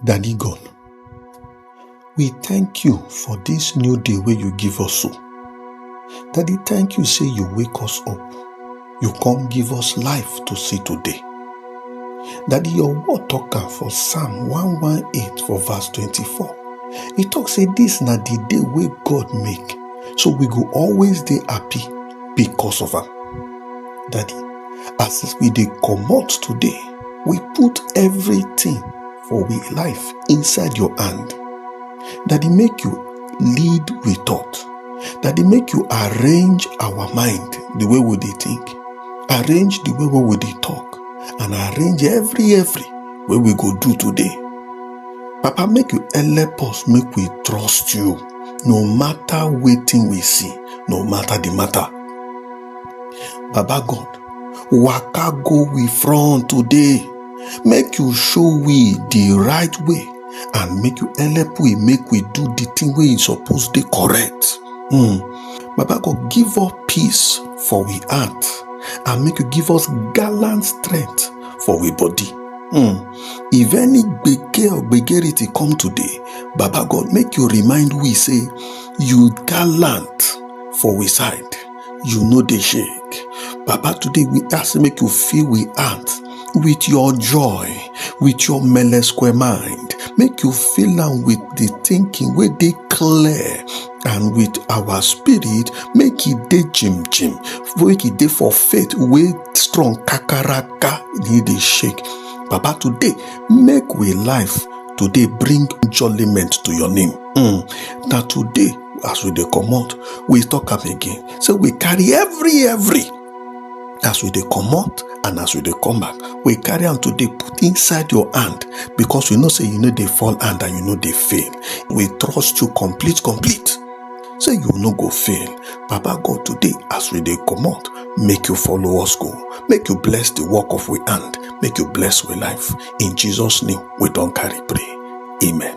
Daddy God, we thank you for this new day where you give us so. Daddy, thank you say you wake us up. You come give us life to see today. Daddy, your word talk am for Psalm 118 for verse 24. E talk say this na the day wey God make, so we go always dey happy because of am. Daddy, as we dey comot today we put everything for we life inside your hand daddy make you lead we thought daddy make you arrange our mind the way we dey think arrange the way wey we dey talk and arrange every every wey we go do today papa make you help us make we trust you no matter wetin we see no matter the matter baba god waka go we front today make you show we the right way and make you help we make we do the thing wey e suppose dey correct hmm baba god give us peace for we heart and make you give us gallant strength for we body hmm if any gbege or gbegerity come today baba god make you remind we say you gallant for we side you no dey shake papa today we ask make you fill we heart with your joy with your mele square mind make you fill am with the thinking wey dey clear and with our spirit make e dey jim jim make e dey for faith wey strong kakaraka e dey shake papa today make we life today bring jollyment to your name mm. na today as we dey comot we talk am again say we carry every every as we dey comot and as we dey come back we carry am today put inside your hand because we know say you no dey fall hand and you no dey fail we trust you complete complete say you no go fail baba god today as we dey comot make you follow us go make you bless the work of we hand make you bless we life in jesus name we don carry pray amen